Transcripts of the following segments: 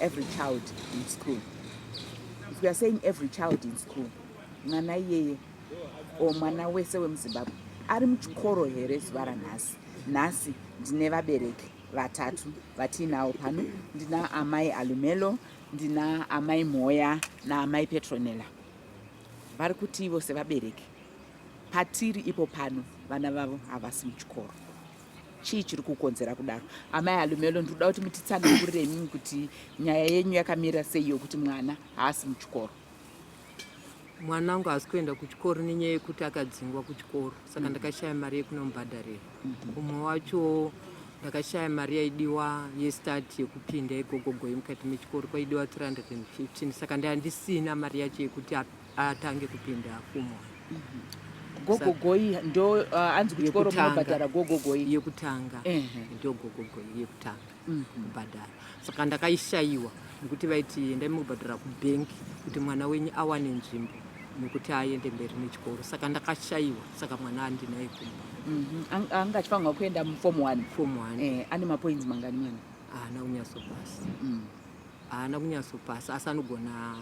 every child in school if we are saying every child in school mwana iyeye o mwana wese wemuzimbabwe ari muchikoro here zuva ranhasi nhasi ndine vabereki vatatu vatiinawo pano ndina amai alumelo ndina amai mhoya naamai petronella vari kuti ivo sevabereki patiri ipo pano vana vavo havasi muchikoro chii chiri kukonzera kudaro amai alumelo ndikuda kuti mutitsanangurire imimi kuti nyaya yenyu yakamira sei yokuti mwana haasi muchikoro mwana wangu haasi kuenda kuchikoro nenyaya yekuti akadzingwa kuchikoro saka mm. ndakashaya mari yekunomubhadharira mm-hmm. umwe wacho ndakashaya mari yaidiwa yestart yekupinda igogogoyi mukati mechikoro kwaidiwa 315 saka ndandisina mari yacho yekuti atange kupinda kumoyo mm -hmm gogogoi ndo uh, anzi kuti koro munobhadhara gogogoi yekutanga ndo gogogoi yekutanga mhm. kubhadhara saka ndakaishayiwa nekuti vaiti endai mukubhadhara kubhenki kuti mwana wenyu awane nzvimbo nekuti aende mberi nechikoro saka ndakashayiwa saka mwana andinaye kumba mhm. anga achifanirwa kuenda mufom one fom one eh, ane mapoints mangani mwana haana kunyasopasa mm. haana kunyasopasa asi anogona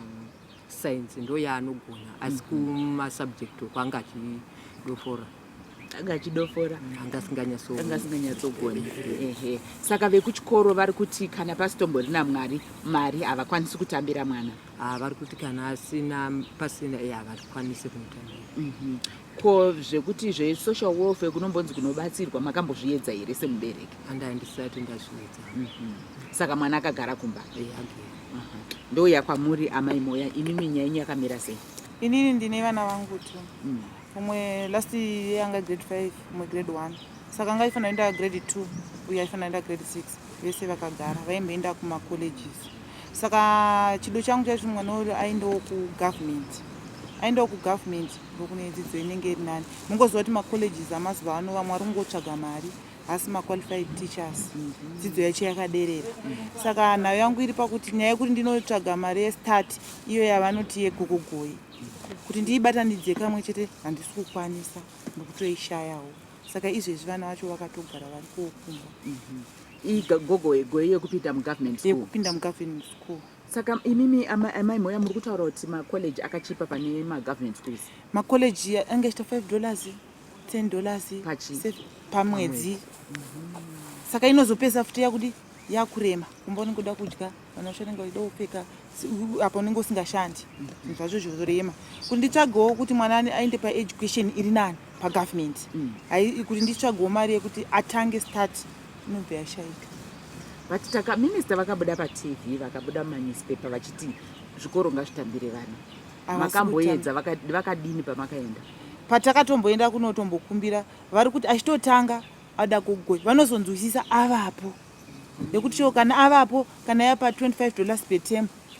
science ndo yaanogona asi kumasubject uko anga achidofora anga achidofora anga asinganyasoanga asinganyatsogona ehe saka vekuchikoro vari kuti kana pasitomborina mwari mari havakwanisi kutambira mwana haa vari kuti kana asina pasina e havakwanisi kumutambira Ko zvekuti zve social welfare kunombonzi kunobatsirwa makambozviedza here semubereki? Anda ndisati ndazviedza. Mm -hmm. Saka mwana akagara kumba? Eh, yeah, okay. uh -huh. Ndouya kwamuri amai Moya, imi minya yenyu yakamira sei? Inini ndine vana vangu tu. Mm. Umwe last year anga grade 5, umwe grade 1. Saka anga ifanira enda grade 2, uye ifanira enda grade 6. Vese vakagara, vaimboenda kuma colleges. Saka chido changu chazvimwana uyo aendawo ku government. Aendawo ku government. kune dzidzo inenge iri nani mungoziva kuti macolleges amazuva ano vamwe vari kungotsvaga mari hasi maqualified teachers dzidzo yacho yakaderera saka nhayo yangu iri pakuti nyaya yekuti ndinotsvaga mari yestart iyo yavanoti yegogogoyi kuti ndiibatanidze kamwe chete handisi kukwanisa ndokutoishayawo saka izvezvi vana vacho vakatogara vari kokumba igogogoyi yekupinda mugovernment school yekupinda mugovernment school Saka imimi amai Moya muri kutaura kuti macollege akachipa pane magovernment schools? Macollege ange achita 5 dollars, 10 dollars pamwedzi. Mhm. Saka inozopesa futi yakudi yakurema kumba unenge uda kudya vana vacho vanenge vachida kupfeka apa unenge usingashandi zvinhu zvacho zvorema kuti nditsvagewo kuti mwana aende paeducation iri nani pagovernment mm. kuti nditsvagewo mari yekuti atange start inobva yashaika but taka minister vakabuda patv vakabuda mumanewspaper vachiti zvikoro ngazvitambire vana makamboedza vakadini pamakaenda patakatomboenda kunotombokumbira vari kuti achitotanga ada kugoi vanozonzwisisa avapo nekuti cho kana avapo kana yapa 25 dollars per term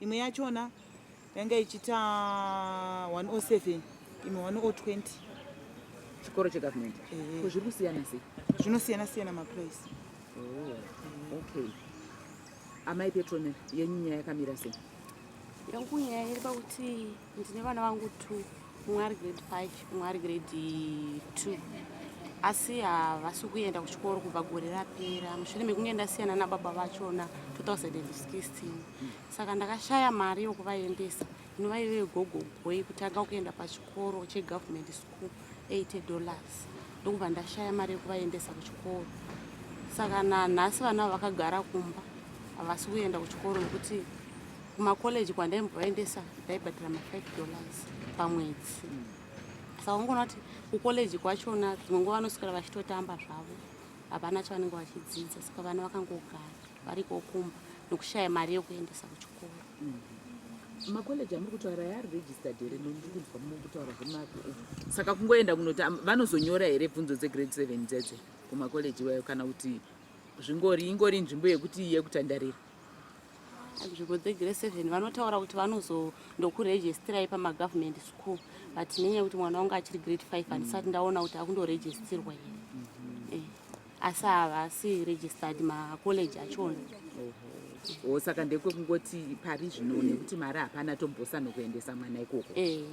imwe yachona yanga ichiita 107 imwe 120 chikoro chegovernment eh. ko zviri kusiyana sei zvinosiyana siyana maprice oh, okay amai petrone yenyu nyaya yakamira sei yangu nyaya iri pakuti ndine vana vangu two umwe ari grade five umwe ari grade two asi havasi kuenda kuchikoro kubva gore rapera mushure mekunge ndasiyana nababa vachona 2016 saka ndakashaya mari yokuvaendesa inova ive gogogo yekutanga kuenda pachikoro chegovernment school 80 dollars ndokubva ndashaya mari yekuvaendesa kuchikoro saka nanhasi vana vakagara kumba havasi kuenda kuchikoro nokuti kumakoleji kwandaimbovaendesa ndaibhadhira ma5 dollars pamwedzi saka ungoona kuti kukoleji kwachona dzimwe nguva vanoswera vachitotamba zvavo havana chavanenge vachidzidza saka vana vakangogara vari kokumba nokushaya mari yokuendesa kuchikoro mm-hmm. makoleji amuri kutaura yaari registered here nondiri kunzwa muri kutaura zvemako saka kungoenda kunoti vanozonyora here bvunzo dzegrade seven dzedze kumakoleji iwayo kana kuti zvingori ingori nzvimbo yekuti yekutandarira nzvimbo dzegrade seven vanotaura kuti vanozo ndokuregistirai pamagovernment school but nenyaya yekuti mwana wangu achiri grade five handisati mm. ndaona kuti akundoregistirwa here mm-hmm. eh, asi havasi registered macollege achona o saka ndekwekungoti pari zvino nekuti mari hapana tombosa nokuendesa mwana ikoko eh.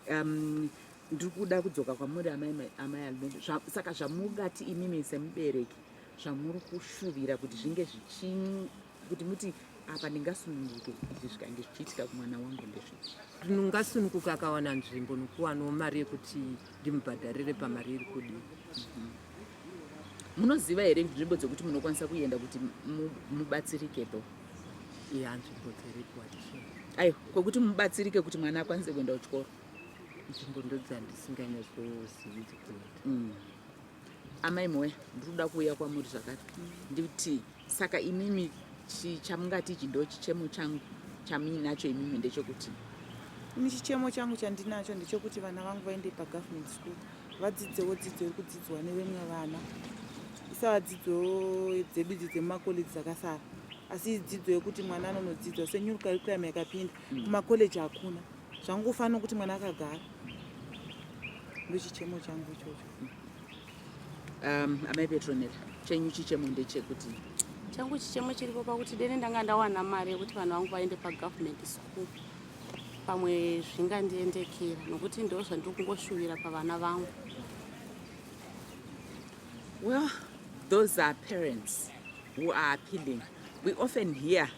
um, ndiri kuda kudzoka kwamuri amai amai almendo saka zvamungati imimi semubereki zvamuri kushuvira kuti zvinge zvichinyi kuti muti apa ndingasununguke izvi zvikange zvichiitika kumwana wangu ndezvipi ndingasununguka akawana nzvimbo nokuwanawo mari yekuti ndimubhadharire pamari iri kudii mhm. munoziva here nzvimbo dzekuti munokwanisa kuenda kuti mubatsirike tho ya nzvimbo dziripo aiwa kwekuti mubatsirike kuti mwana akwanise kuenda kuchikoro nzvimbo ndodzandisinganyazozivi dzekuenda mm. Amai Moya, ndiri kuda kuuya kwamuri zvakare ndikuti saka imimi chamungati ichi ndo chichemo changu chamuinacho imimi ndechekuti ini chichemo changu chandinacho ndechekuti vana vangu vaende pagovernment school vadzidzewo dzidzo iri kudzidzwa nevemwe vana isava dzidzo dzedu idzi dzemumakoleji dzakasara asi dzidzo yekuti mwana anonodzidzwa senyuru curriculum yakapinda mm. kumakoleji hakuna zvangu kufanira kuti mwana akagara ndochichemo changu ichocho Um, amai Petronella, chenyu chichemo ndechekuti changu chichemo chiripo pakuti dene ndanga ndawana mari yekuti vanhu vangu vaende pagovernment school pamwe zvingandiendekera nokuti ndo zvandiri kungoshuvira pavana vangu well those are parents who are appealing we often hear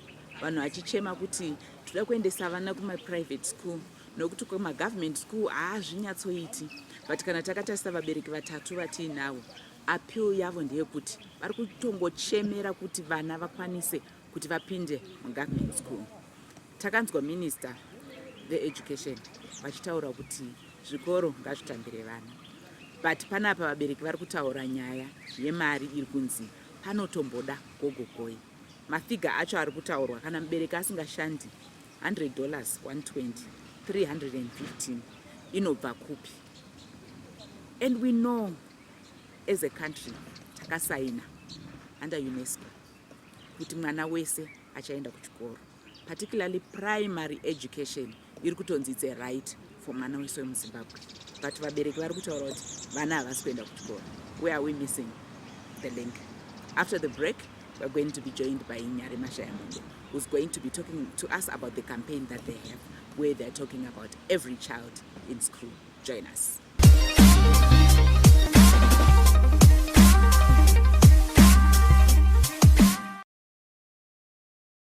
vanhu vachichema kuti toda kuendesa vana kumaprivate school nokuti kumagovernment school haazvinyatsoiti but kana takatarisa vabereki vatatu vatiinavo appeal yavo ndeyekuti vari kutongochemera kuti vana vakwanise kuti vapinde mugovernment school takanzwa minister veeducation vachitaura kuti zvikoro ngazvitambire vana but panapa vabereki vari kutaura nyaya yemari iri kunzi panotomboda gogogoi Mafiga acho ari kutaurwa kana mubereki asingashandi 100 dollars 120 315 inobva kupi? And we know as a country takasaina under UNESCO kuti mwana wese achaenda kuchikoro. particularly primary education iri kutonzi its a right for mwana wese wemuzimbabwe but vabereki vari kutaura kuti vana havasi kuenda kuchikoro where are we missing the link after the break we're going to be joined by nyari mashayamombe who's going to be talking to us about the campaign that they have where they're talking about every child in school join us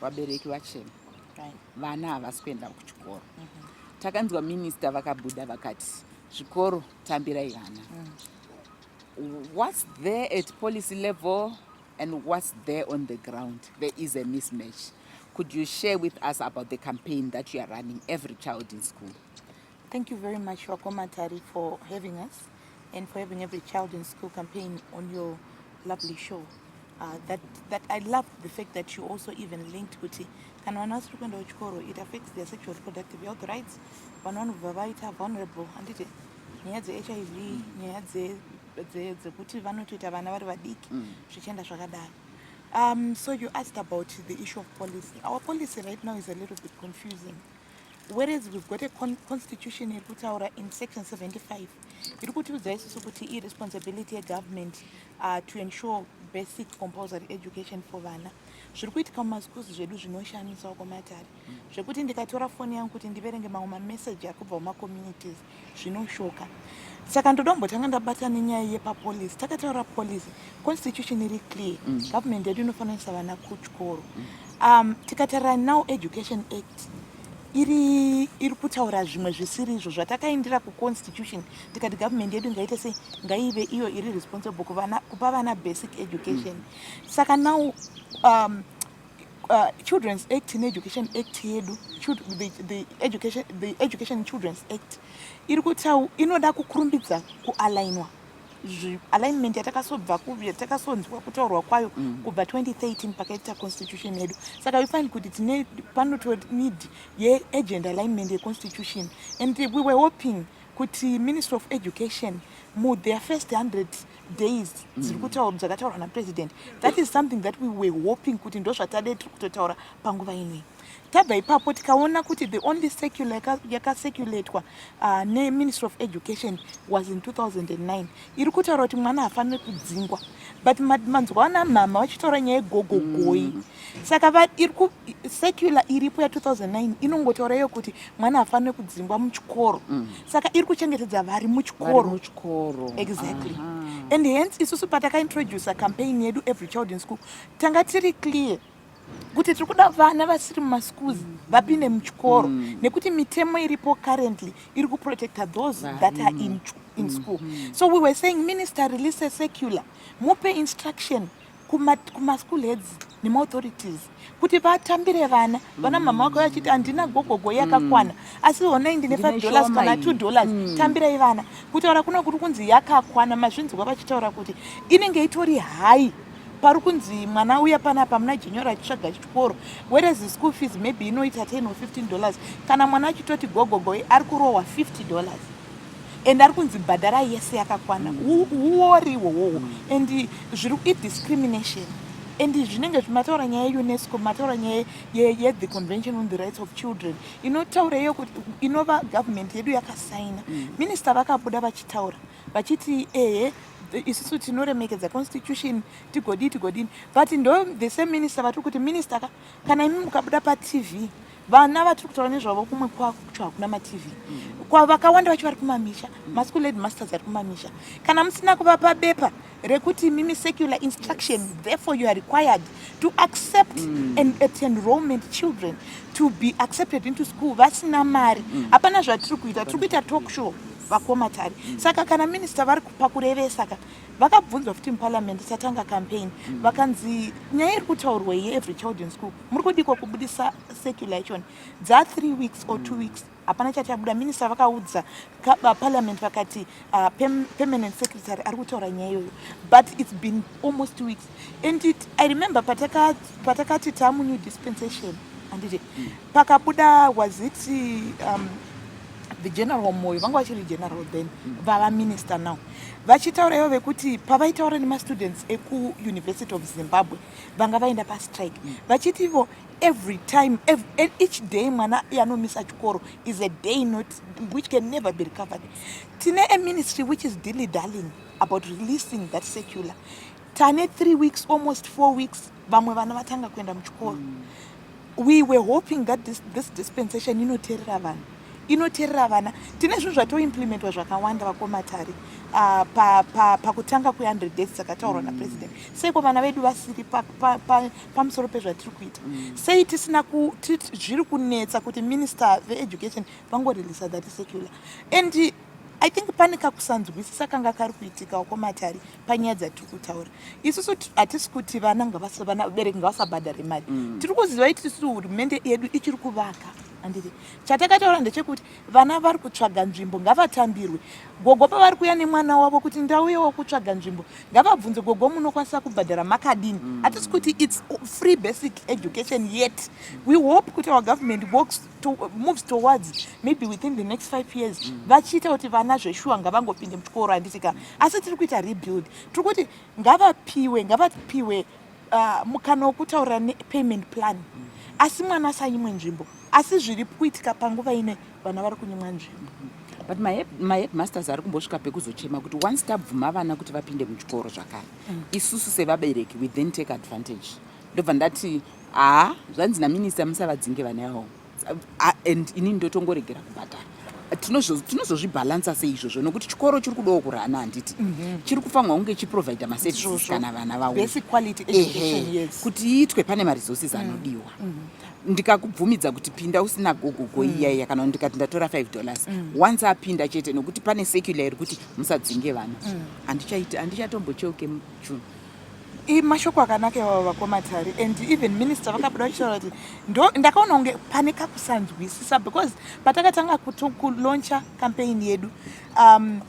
vabereki vachema vana havasi kuenda kuchikoro mhm. takanzwa minista vakabuda vakati zvikoro tambirai vana mm. whats there at policy level and whats there on the ground there is a mismatch could you share with us about the campaign that you are running every child in school Thank you very much Vakoma Tari for having us and for having every child in school campaign on your lovely show. Uh, that, that I love the fact that you also even linked kuti kana vana vasiri kuenda kuchikoro it affects their sexual reproductive health rights vana vanobva vaita vulnerable handiti nyaya dzehiv nyaya dzekuti vanotoita vana vari vadiki mm. zvichienda zvakadaro um, so you asked about the issue of policy our policy right now is a little bit confusing Whereas we've got a con constitution iri kutaura in section 75 iri kutiudza isusu kuti iresponsibility yegovernment uh, to ensure basic compulsory education for vana zviri kuitika mumaschools zvedu zvinoshamisa uko matare zvekuti ndikatora foni yangu kuti ndiverenge mamwe mamessage ari kubva kumacommunities zvinoshoka saka ndoda kumbotanga ndabata nenyaya yepapolice takataura police constitution iri clear mm. government yedu inofananisa vana kuchikoro mm. um, tikatarira now education act iri iri kutaura zvimwe zvisiri izvo zvatakaindira kuconstitution tikati government yedu ngaite sei ngaive iyo iri responsible kuvana, kupa vana basic education mm. saka now um, Uh, children's act needucation act yedu the, the, education, the education children's act iri kutau inoda kukurumbidza kualainwa alignment yatakasobva yatakasonzwa kutaurwa kwayo mm. kubva 2013 pakaita constitution yedu saka we find kuti tine panoto need yeagent alignment yeconstitution and we were hoping kuti ministry of education mu their first 100 days dziri kutaurwa dzakataurwa napresident that is something that we were hoping kuti ndozvatade tiri kutotaura panguva inei tabva ipapo tikaona kuti the only secular yakaseculatwa uh, neministry of education was in 2009 iri kutaura kuti mwana hafanire kudzingwa but manzwa ana mhama vachitaura nyaya yegogogoyi mm -hmm. saka secular iripo ya 2009 inongotaura iyo kuti mwana afanire kudzingwa muchikoro mm. saka iri kuchengetedza vari muchikoro exactly uh -huh. and hence isusu patakaintroducer campaign yedu every child in school tanga tiri clear kuti tiri kuda vana vasiri mumaschools mm. vapinde muchikoro mm. nekuti mitemo iripo currently iri kuprotecta those Va, that are in, in mm. school mm. so we were saying minister release a secular mupe instruction kumaschool heads nemauthorities kuti vatambire vana vana mm. mama wako vachiti handina gogogo yakakwana mm. asi honai ndine five dollars kana two dollars mm. tambirai vana kutaura kuno kuri kunzi yakakwana mazvinzwa vachitaura kuti inenge itori hai pari kunzi mwana uya panapa muna jenyora achitsvaga chikoro whereas school fees maybe inoita ten or fifteen dollars kana mwana achitoti gogogo ari kurohwa fifty dollars and ari kunzi bhadhara yese yakakwana uori ihwohwohwo and zviri idiscrimination and zvinenge zvimataura nyaya yeunesco mataura nyaya yethe convention on the rights of children inotaura iyo kuti inova government yedu yakasaina mm. minista vakabuda vachitaura vachiti ehe isusu tinoremekedza constitution tigodii tigodini but ndo the same minister vatiri kuti minister ka kana imi mukabuda patv vana vatiri kutaura nezvavo kumwe kwakucho hakuna matv vakawanda vacho vari kumamisha maschool led masters ari kumamisha kana musina kuvapa bepa rekuti mimi secular instruction therefore you are required to accept mm. and at enrollment children to be accepted into school vasina mari mm. hapana mm. zvatiri kuita tiri kuita talk show vakomatari mm. saka kana minista vari kupa kurevesa ka vakabvunzwa futi muparliament tatanga campaign mm. vakanzi nyaya iri kutaurwa ye every child in school muri kudikwa kubudisa circulation dza three weeks or two mm. weeks hapana chatabuda minista vakaudza parliament vakati uh, permanent secretary ari kutaura nyaya iyoyo but its been almost two weeks and it, i remember pataka patakati tamu new dispensation anditi mm. pakabuda was it um, the general moyo vanga vachiri general then mm. vava minister now vachitaura ivo vekuti pavaitaura nemastudents ekuuniversity of zimbabwe vanga vaenda pastrike mm. vachiti ivo every time every, e, each day mwana yanomisa chikoro is a day not which can never be recovered tine a ministry which is dilly darling mm. about releasing that secular tane three weeks almost four weeks vamwe vana vatanga kuenda muchikoro mm. we were hoping that this, this dispensation inoterera vanhu inoterera vana tine zvinhu zvatoimplementwa zvakawanda vakomatari uh, pakutanga pa, pa kwe100 days dzakataurwa mm. napresident seiko vana vedu vasiri pamusoro pa, pa, pezvatiri kuita mm. sei tisina zviri kunetsa kuti minister veeducation vangoreleasa that secular and i think pane kakusanzwisisa kanga kari kuitikawo kwomatari panyaya dzatiri kutaura isusu hatisi kuti vana ngavasavanabereki ngavasabhadhare mari mm. tiri kuziva iti tisu hurumende yedu ichiri kuvaka andiri chatakataura ndechekuti vana vari kutsvaga nzvimbo ngavatambirwe gogo pavari kuya nemwana wavo kuti ndauyewo kutsvaga nzvimbo ngavabvunze gogo munokwanisa kubhadhara makadini mm. hatisi kuti its free basic education yet we hope kuti our government works to, uh, moves towards maybe within the next five years mm. vachiita kuti vana zveshuwa ngavangopinde muchikoro handiti ka asi tiri kuita rebuild tiri kuti ngavapiwe ngavapiwe uh, mukana wokutaurira nepayment plan mm. asi mwana asanyimwe nzvimbo asi zviri kuitika panguva ine vana vari kunyimwa nzvimbo mm -hmm but maheadmasters ari kumbosvika pekuzochema kuti once tabvuma vana kuti vapinde muchikoro zvakare mm. isusu sevabereki we then take advantage ndobva ndati haa zvanzi naminista musavadzinge vana yavo and ini ndotongoregera kubhadhara tinozozvibhalansa sei izvozvo nokuti chikoro chiri kudawo kurana handiti mhm. chiri kufanirwa kunge chiprovidha maservices kana vana vawoehe kuti iitwe pane maresources mm. anodiwa mhm. ndikakubvumidza kuti pinda usina gogogo mm. iyaiya kana ndikati ndatora 5 dollars mm. once apinda chete nokuti pane secular iri kuti musadzinge vana handichatombocheuke mujune mashoko akanaka iwawo vakomatari and even minister vakabuda vachitaura kuti ndo ndakaona kunge pane kakusanzwisisa because patakatanga kulauncha campaign yedu um,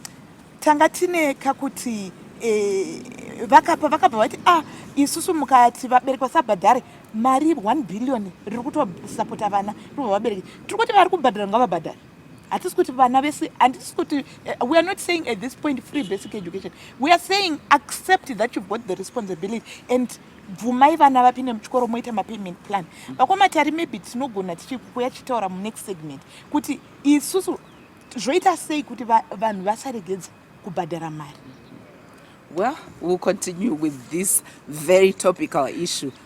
tanga tine kakuti eh, vakapa vakabva vati ah isusu mukati vabereki vasabhadhare mari 1 billion riri kutosapota vana rikuva vabereki tiri kuti vari kubhadhara ngavabhadhare hatisi kuti vana vese handisi kuti eh, we are not saying at this point free basic education we are saying accept that you've got the responsibility and bvumai vana vapinde muchikoro moita mapayment plan vakomatari maybe tinogona tichikuya tichitaura munext segment kuti isusu zvoita sei kuti vanhu vasaregedza kubhadhara mari well we'll continue with this very topical issue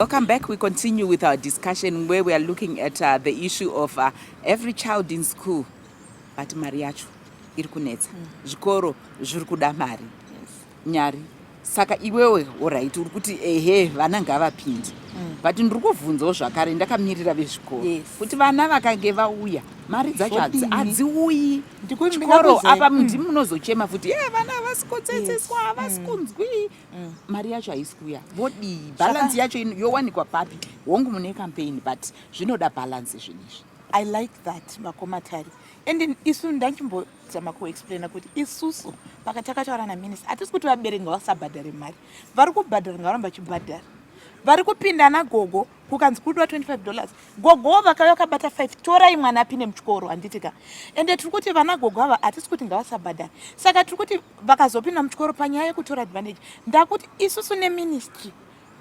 Welcome back. We continue with our discussion where we are looking at uh, the issue of uh, every child in school but mari yacho iri kunetsa mm. zvikoro zviri kuda mari nyari saka iwewe orit uri kuti ehe vana ngavapindi mm. but ndiri kuvhunzawo zvakare ndakamirira vezvikoro kuti vana vakange vauya mari dzacho hadziuyi chikoro apa mm. ndimi munozochema futi e vana havasi kotsetseswa havasi mm. kunzwi mari yacho haisi kuuya vodii bhalansi yacho yowanikwa papi hongu mune campaign but zvinoda bhalansi zvinizvi i like that makomatari and isu ndachimbo zama kuexplaina kuti isusu paka takataura naminista hatisi kuti vabereki ngavasabhadhare mari vari kubhadhara ngavaramba vachibhadhara vari kupinda nagogo kukanzi kudiwa 25 dollars gogowo vakauya vakabata 5 torai mwana apinde muchikoro handitika ende tiri kuti vana gogo ava hatisi kuti ngavasabhadhare saka tiri kuti vakazopinda muchikoro panyaya yekutora advantage ndakuti isusu neministry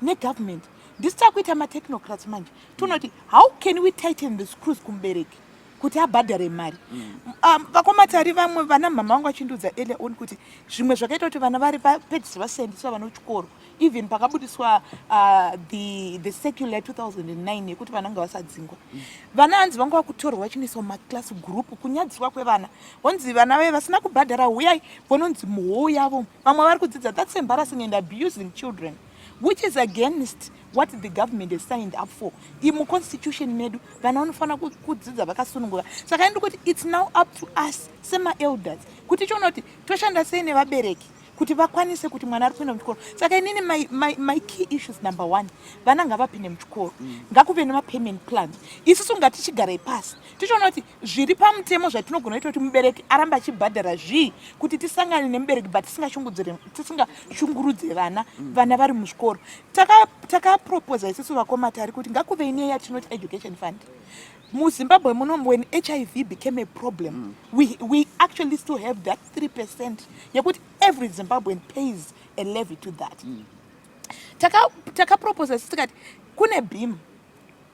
negovernment ndisi takuita matechnocrats manje tonoti how can we tighten the screws kumubereki kuti abhadhare mari mm. um, vakomatari vamwe vana mama vangu vachindiudza earlier on kuti zvimwe zvakaita kuti vana vari vapedzisira vasiyandiswa vana kuchikoro even pakabudiswa uh, the, the secular 2009 yekuti vana nga vasadzingwa mm. vana hanzi vanga vakutorwa vachinoiswa maclass group kunyadziswa kwevana vonzi vana vaye vasina kubhadhara huyai vononzi muhou yavo vamwe vari kudzidza that's embarrassing and abusing children which is against what the government has signed up for imuconstitution medu vana vanofanira kudzidza vakasunungura saka indi kuti its now up to us semaelders kuti choona kuti toshanda sei nevabereki kuti vakwanise kuti mwana ari kuenda muchikoro saka inini my, my, my key issues number one vana ngavapinde muchikoro mm. ngakuve nemapayment plans isusu ngatichigarai pasi tichiona kuti zviri pamutemo zvatinogona kuita kuti mubereki aramba achibhadhara zvii kuti tisangane nemubereki but tisingashungurudze vana mm. vana vari muzvikoro takaproposa isisu vakoma tari kuti ngakuve ine yatinoti education fund muzimbabwe muno when hiv became a problem mm. we, we actually still have that 3 percent yekuti every zimbabwean pays a levy to that mm. takaproposa taka isisu tikati kune beam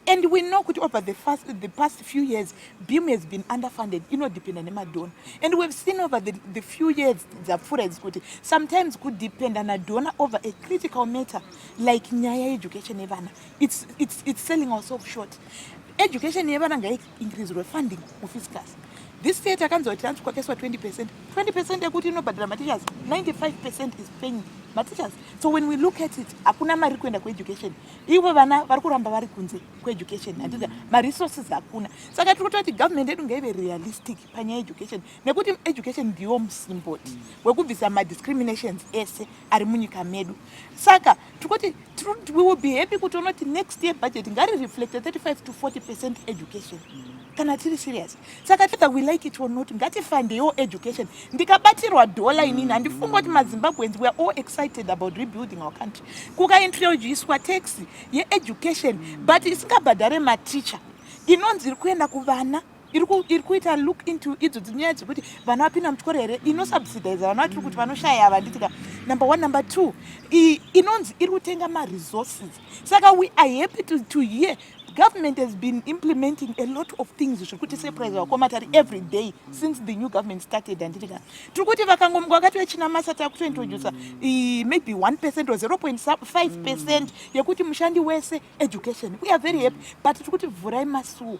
and we know kuti over the, first, the past few years beam has been underfunded inodependa nemadhona and we've seen over the, the few years dzapfuura idzi kuti sometimes kudependa nadhona over a critical matter like nyaya yeeducation yevana it's, it's, it's selling ourself short education yevana ngaiincreasirwe funding mufiscus this state akanzwa kuti anzi kwakaiswa 20 percent 20 percent yekuti inobhadhara mateachers 95 percent is paying mateachers so when we look at it hakuna mari kuenda kueducation ivo vana vari kuramba vari kunze kweeducation handiza maresources hakuna saka tiri kutoti government yedu ngaive realistic panyaya yeeducation nekuti education ndiwo musimboti wekubvisa madiscriminations ese ari munyika medu saka tiri kuti we will be happy kuti unoti next year budget ngari reflecte 35 to 40 percent education kana tiri serious saka tether we like it or not ngatifandeiwo education ndikabatirwa dhola inini handifunga kuti mazimbabweans weare all excited about rebuilding our country kukaintroducwa tax yeeducation but isingabhadhare mateacher inonzi iri kuenda kuvana iri kuita look into idzo dzinyaya dzekuti vana vapinda muchikoro here inosubsidaiza vana vatiri kuti vanoshaya ava nditika number one number two inonzi iri kutenga maresources saka we are happy to, to hear government has been implementing a lot of things zviri kuti surprise vakoma tari every day since the new government started handiti ka tiri kuti vakangomga vakati vechina masa takutointroduca maybe 1 percent or 0.5 percent yekuti mushandi wese education we are very happy but tiri kuti vhurai masuo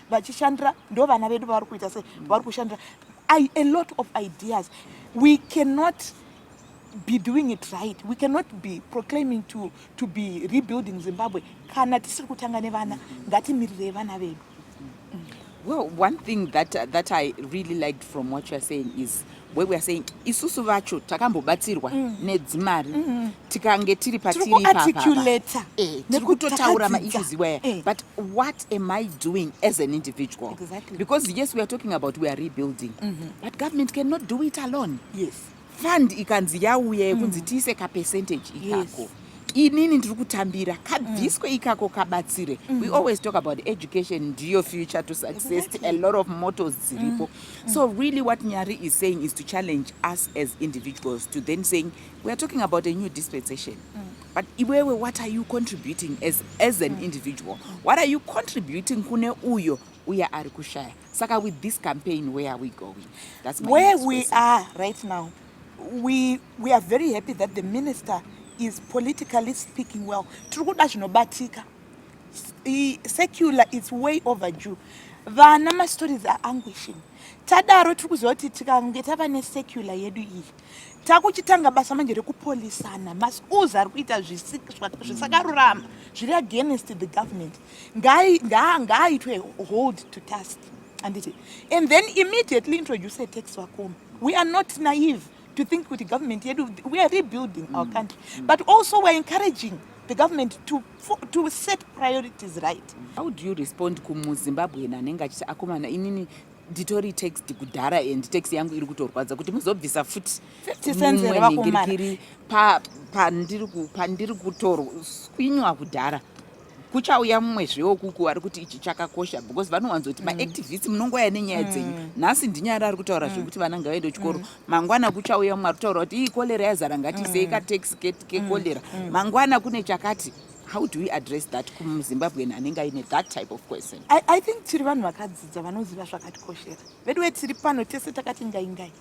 vachishandira ndo vana vedu vavari kuita se vari kushandira I, a lot of ideas we cannot be doing it right we cannot be proclaiming to, to be rebuilding zimbabwe kana tisiri kutanga nevana ngatimirirei vana vedu well one thing that, that i really liked from what youare saying is we were saying isusu vacho takambobatsirwa mm. nedzimari mm -hmm. tikange tiri patiriarticulata eh, tiri kutotaura maissues iwaya eh. but what am i doing as an individual exactly. because yes we are talking about we are rebuilding mm -hmm. but government cannot do it alone yes fund ikanzi yauya yekunzi mm. tiise kapercentage ikako yes. inini ndiri kutambira kabviswe mm. ikako kabatsire mm. we always talk about education ndiyo future to success a lot of motos dziripo mm. so really what nyari is saying is to challenge us as individuals to then saying we are talking about a new dispensation but iwewe what are you contributing as, as an individual what are you contributing kune uyo uye ari kushaya Saka with this campaign where are we going? That's my where we question. are right now. We we are very happy that the minister is politically speaking well. Tiri kuda zvinobatika. Secular is way overdue. Vana ma stories are anguishing. Tadaro tiri kuziva kuti tikange tava ne secular yedu iyi takuchitanga basa manje rekupolisana maschools ari kuita zvisakarurama zviri against the government Ngai, ngaa, ngaaitwe hold to task. Anditi. And then immediately introduce a tax vakomi. We are not naive to think kuti government yedu, we are rebuilding mm. our country. Mm. But also we are encouraging the government to, to set priorities right. How do you respond kumu Zimbabwe na nenga chisa akomana inini nditori text kudhara and text yangu iri kutorwadza kuti muzobvisa futi mumwenhingirikiri pandiri kutorwa kwinywa kudhara kuchauya mumwe zveukuku ari kuti ichi chakakosha because vanowanzoti mm. maactivist munongouya nenyaya mm. dzenyu nhasi ndinyari ari kutaura mm. zvekuti vana ngavaende kuchikoro mangwana kuchauya mumwe ari kutaura kuti ii kolera yazara ngatisei kataxi kekolera mangwana kune chakati how do we address that kumuzimbabwean anenge aine that type of question i, I think tiri vanhu vakadzidza vanoziva zvakatikoshera veduwe tiri pano tese takati ngaingai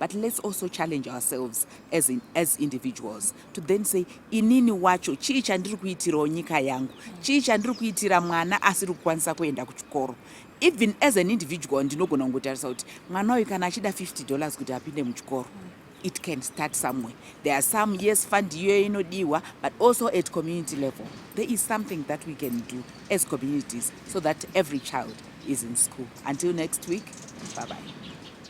but let's also challenge ourselves as, in, as individuals to then say inini wacho chii chandiri kuitirawo nyika yangu chii chandiri kuitira mwana asiri kukwanisa kuenda kuchikoro even as an individual ndinogona kungotarisa kuti mwana uyu kana achida 50 dollars kuti apinde muchikoro it can start somewhere there are some yes fund iyoyo inodiwa but also at community level there is something that we can do as communities so that every child is in school until next week bye bye